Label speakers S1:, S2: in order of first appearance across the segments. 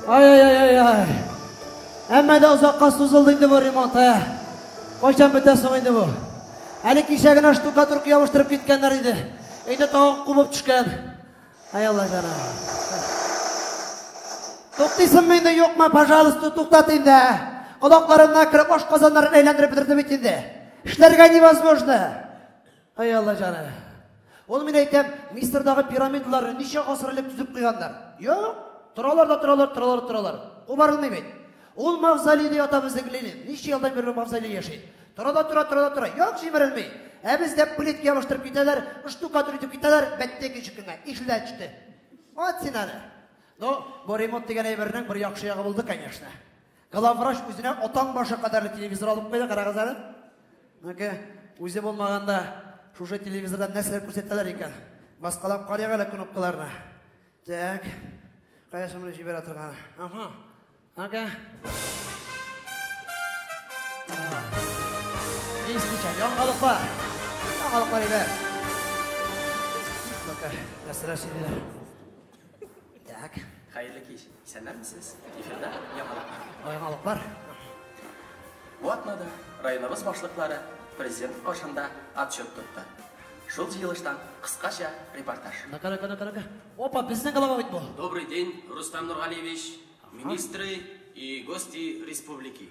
S1: Ай-ай-ай-ай-ай. Әмма да озакка сузылды инде бу ремонт, ә. Кайчан бетә соң инде бу? Әле кичә генә штукатурка ябыштырып киткәннәр иде. Инде тагын кубып төшкән. Ай Алла җана. Туктыйсыңмы инде юкмы, пожалуйста, туктат инде. Колакларына кереп, ашказаннарын әйләндереп бетерде бит инде. Эшләргә невозможно. Ай Алла җаны. Ул мин әйтәм, Мисырдагы пирамидаларны ничә гасыр элек төзеп куйганнар? Юк, торалар да торалар, торалар, торалар. Кубарылмый бит. Ул мавзолейда ята безнең Ленин. Ничә елдан бирле мавзолей яши. Тора да тора, тора да тора. Юк, җимерелми. Ә бездә плитка ябыштырып китәләр, штукатур итеп китәләр, бәттә кичек кенә. Ишелә төште. Вот син аны. Ну, бу ремонт дигән әйбернең бер яхшы ягы булды, конечно. Главврач үзенә атаң башы кадәрле телевизор алып куйды, карагыз әле. Нәкә үзе булмаганда шушы телевизордан нәрсәләр күрсәтәләр икән? Баскалап карыйк әле кнопкаларны. Так. Кая шуны җибәрә торган? Ага. Ага. Ишмичә, яңалыкла. Яңалыкла иде. Нәрсәләр сөйлиләр? Так. Хәерле
S2: кич. Исәннәрмесез? Эфирда яңалык. Яңалык
S1: бар.
S2: Ватмада районыбыз башлыклары президент каршында отчет тотты. Шул җыелыштан кыскача репортаж. Нага нага нага нага.
S1: Опа, безнең глава бит бу. Добрый день, Рустам
S2: Нургалиевич, министры и гости республики.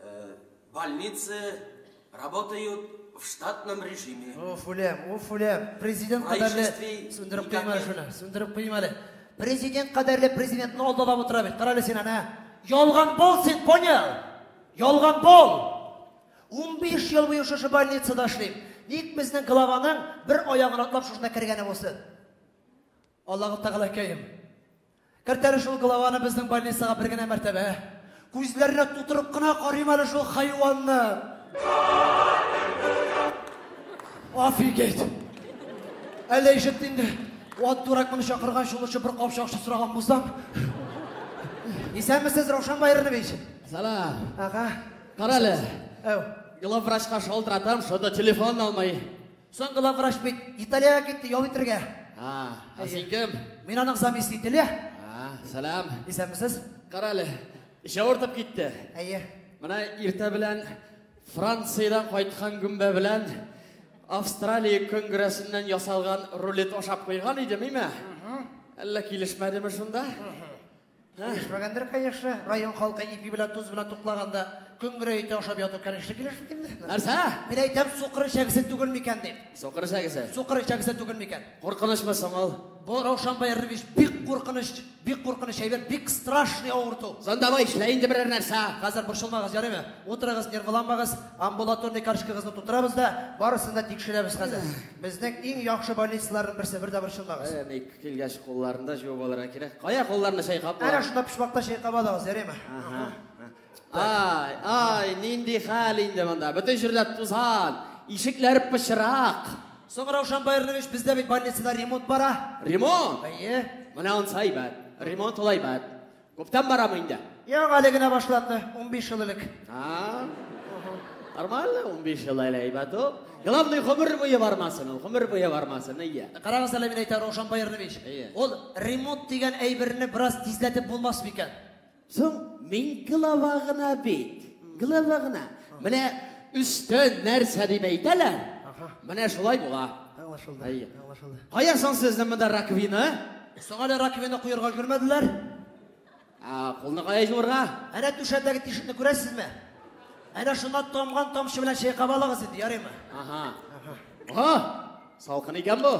S2: Э, больницы работают в штатном режиме. Уф, үлем, уф, үлем.
S1: Президент кадәрле... Сүндереп куйма шуны, сүндереп куйма әле. Президент кадәрле президентны алдалап утыра бит. Кара әле син ана. Ялган бол син, понял? Ялган бол. 15 ел буе шушы больницада эшлим. Ник безнең главаның бер аягын атлап шушында кергәне булсын? Аллаһу Тәгалә кәем. Кертә әле шул главаны безнең больницага бер генә мәртәбә. Күзләренә тутырып кына карыйм әле шул хайванны. Офигеть! Әллә ишетте инде. Ат дурак моны чакырган чулучы бер капчак су сораган булсам. Исәнмесез, Раушан Байранович. Салам.
S3: Ага.
S1: Кара әле.
S3: Әу. Главврачка шалтыратам, шунда телефон алмый. Соң главврач
S1: бит Италиягә китте ял итергә. А, ә син
S3: кем? Мин аның заместителе.
S1: А, сәлам.
S3: Исәнмесез?
S1: Карале.
S3: Эш авыртып китте. Әйе. Менә
S1: иртә
S3: белән Франциядән кайткан гөмбә белән Австралия конгрессыннан ясалган рулет ашап куйган идем, име? Әллә килешмәдеме шунда?
S1: Килешмәгәндер, конечно. Район халкы ипи белән тоз белән туклаганда көнгерә ите ашап яту, конечно, килешми инде. Нәрсә? Мин әйтәм,
S3: сукыр
S1: эчәгесе түгел микән дип. Сукыр эчәгесе. Сукыр
S3: эчәгесе түгел
S1: микән? Куркынычмы соң ул?
S3: Бу Раушан Баярович
S1: бик куркыныч, бик куркыныч әйбер, бик страшный авырту. Сон давай эшлә инде берәр
S3: нәрсә. Хәзер борчылмагыз, ярыймы?
S1: Утырыгыз, нервланмагыз. Амбулаторный каршкагызны тутырабыз да, барысын да тикшерәбез хәзер. Безнең иң яхшы больницаларның берсе, бер дә борчылмагыз. Э, Килгәч,
S3: кулларны да җуып алырга кирәк. Кая кулларны чайкап була? Әнә шунда почмакта чайкап
S1: алыгыз, ярыймы? Ага. Ай,
S3: ай, нинди хәл инде монда. Бөтен җирдә тузан, ишекләр пычрак. Соң Раушан
S1: Байрныевич, бездә бит больницада ремонт бара. Ремонт? Әйе.
S3: Менә
S1: ансы әйбәт.
S3: Ремонт ул әйбәт. Күптән барамы
S1: инде?
S3: Юк,
S1: әле генә башланды, 15
S3: ел элек.
S1: А,
S3: нормально, 15 ел әле әйбәт ул. Главный гомер буе бармасын ул, гомер буе бармасын, әйе. Карагыз әле мин әйтәм, Раушан
S1: Баярнович. Әйе. Ул ремонт дигән әйберне бераз тизләтеп булмас микән? Соң
S3: мин глава гына бит. Глава гына. Менә өстен нәрсә дип әйтәләр. Менә шулай була. Аңлашылды. Әйе. Аңлашылды.
S1: Кая соң
S3: сезнең монда раковина? Соң әле
S1: раковина куярга өлгермәделәр. Ә,
S3: кулны кая җуырга? Әнә түшәмдәге
S1: тишекне күрәсезме? Әнә шуннан тамган тамчы белән чайкап алыгыз инде, ярыймы? Ага. Ага.
S3: Салкын икән бу.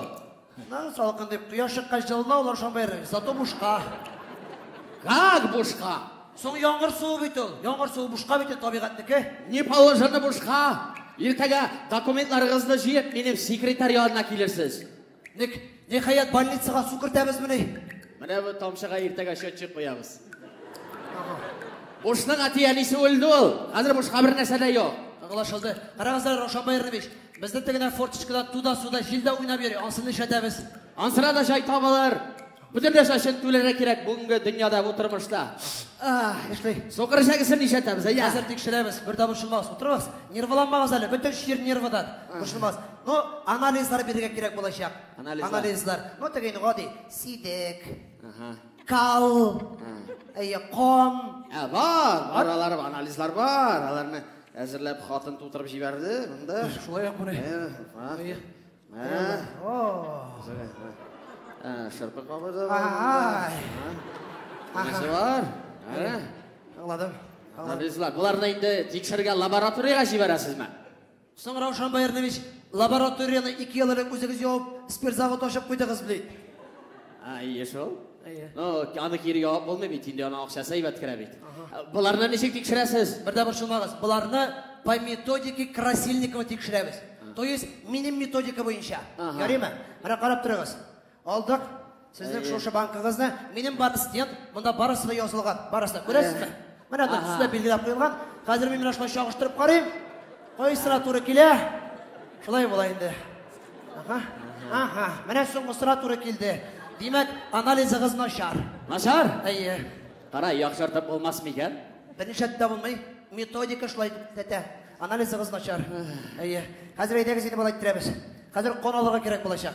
S3: На, салкын
S1: дип, кояш чыккач җылына ул ашан бәйрәм. Зато бушка.
S3: Как бушка? Соң яңгыр
S1: суы бит ул. Яңгыр суы бушка бит ул табигатьнеке. Не положено
S3: бушка. Иртәгә документларыгызны җыеп, минем секретарь янына килерсез. Ник,
S1: ниһаять, больницага су кертәбезмени? Менә бу тамчыга
S3: иртәгә счетчик куябыз. Бушның әти-әнисе үлде ул. Хәзер бушка бер нәрсә дә юк. Аңлашылды.
S1: Карагызлар, Раушан Байранович, безнең тегенә форточкада туда-суда җилдә уйнап йөри. Ансын нишләтәбез? Ансына да җай
S3: табылыр. Бөтенләй шашын түләргә кирәк бүгенге дөньяда бу тормышта. Ах, яшли.
S1: Сукыр шәгесен
S3: нишәтәбез, әйе. Хәзер тикшерәбез, бер дә
S1: бушылмагыз, утырыгыз. Нерваланмагыз әле, бөтен чир нервадан бушылмас. Ну, анализлар бирергә кирәк булачак. Анализлар. Анализлар. Ну, теге инде гади, сидек. Ага. Кал. Әйе, ком. Ә, бар,
S3: бар, алар бар, анализлар бар. Аларны әзерләп хатын тутырып җибәрде, монда. Шулай ук менә.
S1: Әйе, бар.
S3: Шырпы кабыза. Нәрсә бар?
S1: Аңладым. Аңладым.
S3: Боларны инде тикшергә лабораториягә җибәрәсезме? Соң Раушан
S1: Баярнович, лабораторияне ике ел элек үзегез явып, спирт завод ачып куйдыгыз бит. әйе
S3: шул әйе аны кире ябып булмый бит инде аның акчасы әйбәт керә бит боларны ничек тикшерәсез бер дә борчылмагыз
S1: боларны по методике красильникова тикшерәбез то есть минем методика буенча ярыймы менә карап торыгыз алдык сезнең шушы банкыгызны минем бар стенд монда барысы да язылган барысы да күрәсезме Менә Ага. төсенә билгеләп куелган. Хәзер мин менә шулай чагыштырып карыйм. Кайсына туры килә? Шулай була инде. Ага. Ага. Менә соңгысына туры килде. Димәк, анализыгыз начар. Начар? Әйе. Кара, яхшыртып
S3: булмас микән? Берничә дә булмый.
S1: Методика шулай тәтә. Анализыгыз начар. Әйе. Хәзер әйдәгез инде болай иттерәбез. Хәзер кан алырга кирәк булачак.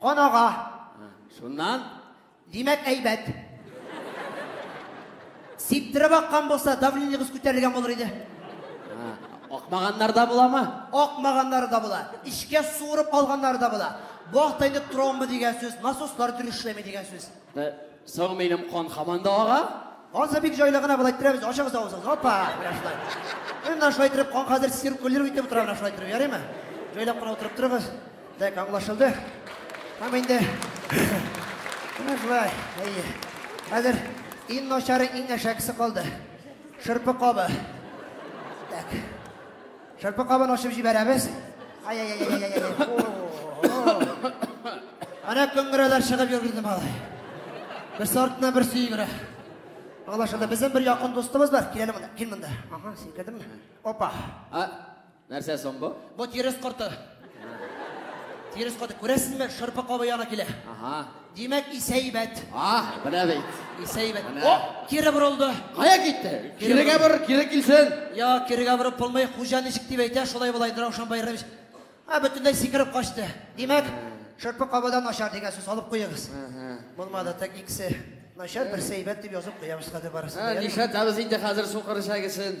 S1: Кан ага. Шуннан?
S3: Димәк,
S1: әйбәт. Сиптереп аккан булса, давлениегез күтәрелгән булыр иде.
S3: Акмаганнарда буламы? Акмаганнары да була.
S1: Эчкә суырып алганнары да була. Бу хакта инде тромба дигән сүз, насослар дөрес эшләми дигән сүз. Ә, Соң минем
S3: кан хаман да ага? Ансы бик җайлы
S1: гына болай иттерәбез, ачыгыз авызын. Опа, менә шулай. Менә шулай иттереп, кан хәзер циркулирует итеп утыра, менә шулай иттереп, ярыймы? Җайлап кына утырып торыгыз. Так, аңлашылды. Һәм инде Менә шулай. Әйе. Хәзер иң начары, иң әшәкесе калды. Шырпы кабы. Так. Шырпы кабын ачып җибәрәбез. Ана көңгерәләр чыгып йөргәнде малай. Бер сортына бер сөйгерә. Алла шунда безнең бер якын дустыбыз бар. Киләле монда. Кил монда. Ага, син килдеңме? Опа. А,
S3: нәрсә соң бу? Бу тирес корты.
S1: Тирес каты, күрәсезме, шырпы кабы яна килә. Ага. Димәк, исәйбәт. А, менә бит.
S3: Исәйбәт. О,
S1: кире борылды. Кая китте?
S3: Кирегә бор, кире килсен. Я, кирегә борып
S1: булмый, хуҗа ничек дип әйтә, шулай болай Раушан Байрамович. А, бөтенләй сикереп качты. Димәк, шырпы кабадан начар дигән сүз алып куегыз. Булмады, так икесе. Начар берсе әйбәт дип язып куябыз хәзер барысын. Ә, нишләтәбез инде хәзер
S3: сукыр чәгесен?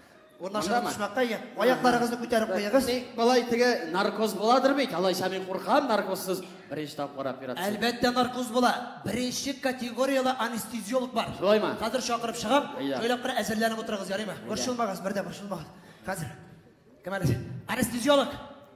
S1: Урнашырга төшмәккә ия. Аякларыгызны күтәреп куегыз. Болай теге
S3: наркоз буладыр бит. Алайса мин куркам наркозсыз беренче тапкыр операция. Әлбәттә наркоз була.
S1: Беренче категорияле анестезиолог бар. Шулаймы? Хәзер чакырып
S3: чыгам.
S1: Шөйләп бер әзерләнеп
S3: утырыгыз,
S1: ярыймы? Борчылмагыз, бердә борчылмагыз. Хәзер. Кем әле? Анестезиолог.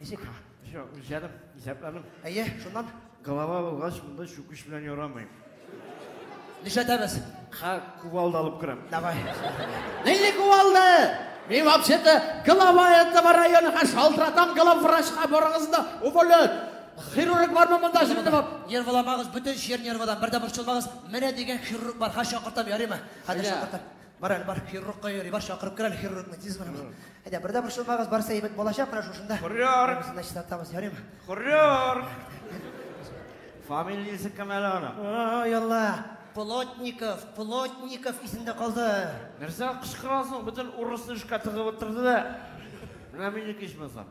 S1: Ничек? Җо,
S4: җаным, исәпләнем. Әйе, шуннан.
S1: Голова булгач,
S4: монда чүкеч белән ярамый.
S1: Нишләтәбез? Ха, кувалда
S4: алып керәм. Давай.
S1: Нинди
S3: кувалда? Мин вообще-то голова этого района ха шалтыратам главврачка барыгыз да уволят. Хирург бармы монда җирдә бар? Нервламагыз, бөтен
S1: җир нервадан, бер дә борчылмагыз. Менә дигән хирург бар, ха чакыртам, ярыймы? Хәзер чакыртам. Бар әле, бар, хирургка йөри, бар, чакырып кер әле хирургны, тиз генә. Әйдә, бер дә борчылмагыз, барысы әйбәт булачак, менә шушында. Хөррәр! Барысына чистартабыз,
S4: ярыймы?
S1: Хөррәр!
S4: Фамилиясе кем әле аның? О, ялла!
S1: Плотников, Плотников исемдә калды. Нәрсә
S4: кычкырасың? Бөтен урысны эшкә тыгып утырды да. Менә минеке ичмасам.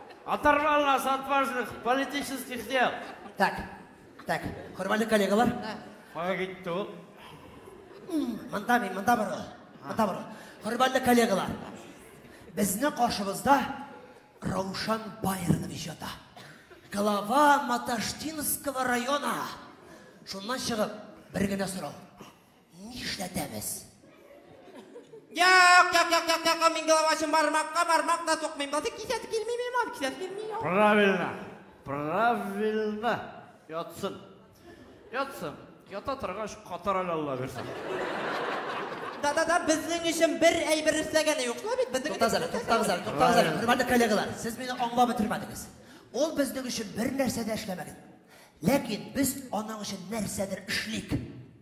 S4: Оторвал нас от важных политических дел. Так,
S1: так, хөрмәтле коллегалар. Кая китте
S4: ул? Монда мин,
S1: монда бар ул. Монда бар ул. Хөрмәтле коллегалар. Безне каршыбызда Раушан Байрон иҗаты. Глава Маташтинского района. Шуннан чыгып, бер генә сорау. Нишләтәбез? Як,
S5: як, як, як, як, мин головачым бармакка, бармак та тукмыйм. Басы кисәт килми мин, мам, кисәт килми. Правильно, правильно.
S4: Ятсын. Ятсын. Ята торгач, катар әле Алла бирсә.
S5: Да, да, да, безнең өчен бер әйбер эшләгәне юк шулай бит, безнең Туктагыз әле, туктагыз әле, туктагыз
S1: әле, хөрмәтле коллегалар. Сез мине аңлап бетермәдегез. Ул безнең өчен бер нәрсә дә эшләмәгән. Ләкин без аның өчен нәрсәдер эшлик.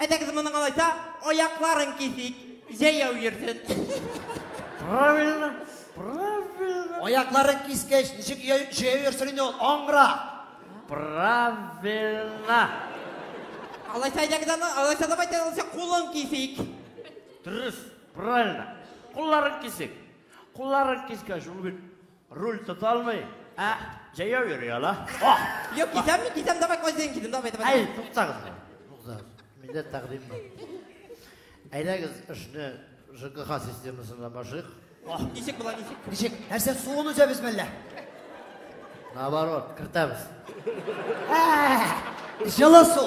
S5: Әйдәгез моның алайса аякларын кисик, җәяү йөрсен.
S4: Правильно, правильно.
S1: Аякларын кискәч, ничек җәяү йөрсен инде ул? Аңра. Правильно.
S5: Алайса әйдәгез аны, алайса давайте алайса кулын кисик. Дөрес,
S4: правильно. Кулларын кисик. Кулларын кискәч, ул бит Руль тоталмый, ә җәяү йөри ала. Ох! Юк, кисәм
S5: мин, кисәм, давай кайсен кидем, давай, давай. Әй, туктагыз.
S4: Туктагыз. Миндә тәкъдим бар. Әйдәгез эшне ЖКХ системасына башыйк. Ох, ничек була,
S5: ничек? Ничек? Нәрсә
S1: суын үзәбез мәллә?
S4: Наоборот, кертәбез. Ә!
S1: Җылы су.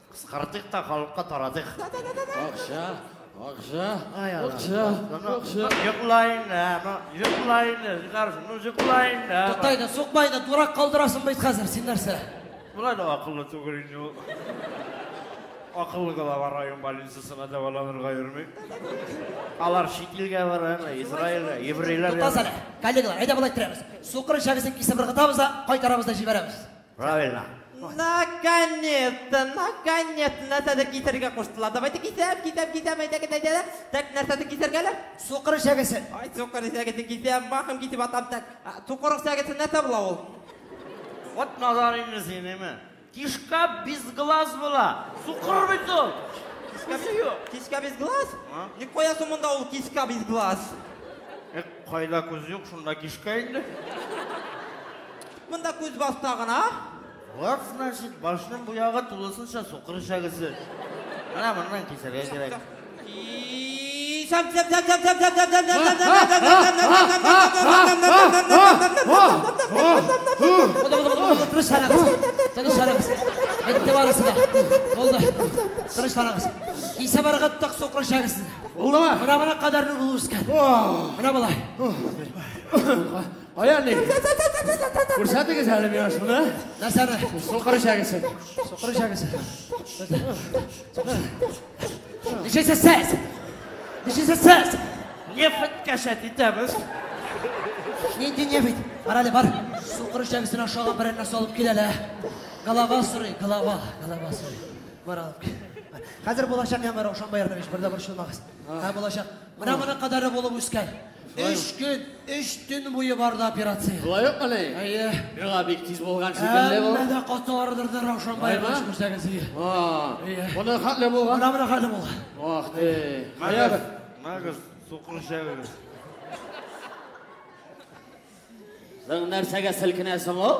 S4: Кыскартыйк та халыкка таратыйк. Акча,
S3: акча, акча, акча.
S4: Йоклайны, йоклайны, нәрсәне йоклайны. Тотайны, сукмайны,
S1: дурак калдырасың бит хәзер, син нәрсә? Болай да акыллы
S4: түгел инде ул. Акыллы гына бар район больницасына дәваланырга йөрми. Алар чит илгә бара, Израильгә, еврейлар. Тотасана, коллегалар,
S1: әйдә болай иттерәбез. Сукыр ишәгесен кисеп ыргытабыз да, кайтарабыз да җибәрәбез. Правильно.
S4: Наконец-то,
S5: наконец-то, нәрсәдер кисәргә куштылар. Давайте кисәм, кисәм, кисәм, әйдә, әйдә, әйдә. Так, нәрсәдер кисәргә әле? Сукыр эчәгесе.
S1: Ай, сукыр эчәгесе
S5: кисәм, бахым кисеп атам, так. Сукыр эчәгесе нәрсә була ул? Вот
S4: надар инде синеме. Кишка без глаз була. Сукыр бит ул.
S5: Кишка без глаз? Ни куясы монда ул кишка без глаз?
S4: Кайда күз юк, шунда кишка инде. Монда
S5: күз баста гына. Лак, значит,
S4: башның бу ягы тулысынча сукыр эчәгесе. Менә моннан кисәргә кирәк.
S1: Тынычланыгыз. Кисә барга ток сукыр эчәгесен. Була. Менә моның
S3: кадәрне булышкан.
S1: Менә болай.
S3: Кая ни? Күрсәтегез әле миңа шуны. Нәрсәне?
S1: Сукыр ишәгесе.
S3: Сукыр ишәгесе.
S1: Ничесе сез? Ничесе сез?
S4: Нефть кәшәт итәбез.
S1: Нинди нефть? Бар әле, бар. Сукыр ишәгесен ашауга берәр нәрсә алып кил әле. Голова сорый, голова, голова сорый. Бар алып кил. Хәзер булачак яңгыр Раушан Баярдович, бер дә борчылмагыз. Һә булачак. Менә моның кадары булып үскән. Өч көн, өч төн буе барды операция. Шулай ук мени? Әйе.
S3: Миңа бик
S1: тиз булган
S3: шикелле бу. Әмма дә каты ардырды
S1: Раушан бай эш күрсәгез иде. Әйе.
S3: Моны хәтле булган. Менә менә хәтле булган.
S1: Ах ти.
S3: Мәгәр, мәгәр
S4: сукыр шәгәр.
S3: Соң нәрсәгә селкенәсең ул?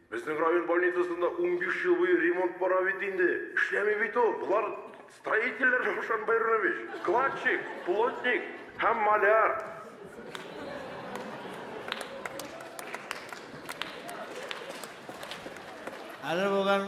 S6: Безнең район больницасында унбиш ел буе ремонт бара бит инде. Эшләми бит ул. Болар строительләр, Раушан Байронович. Кладчик, плотник һәм маляр.
S4: Әле бүген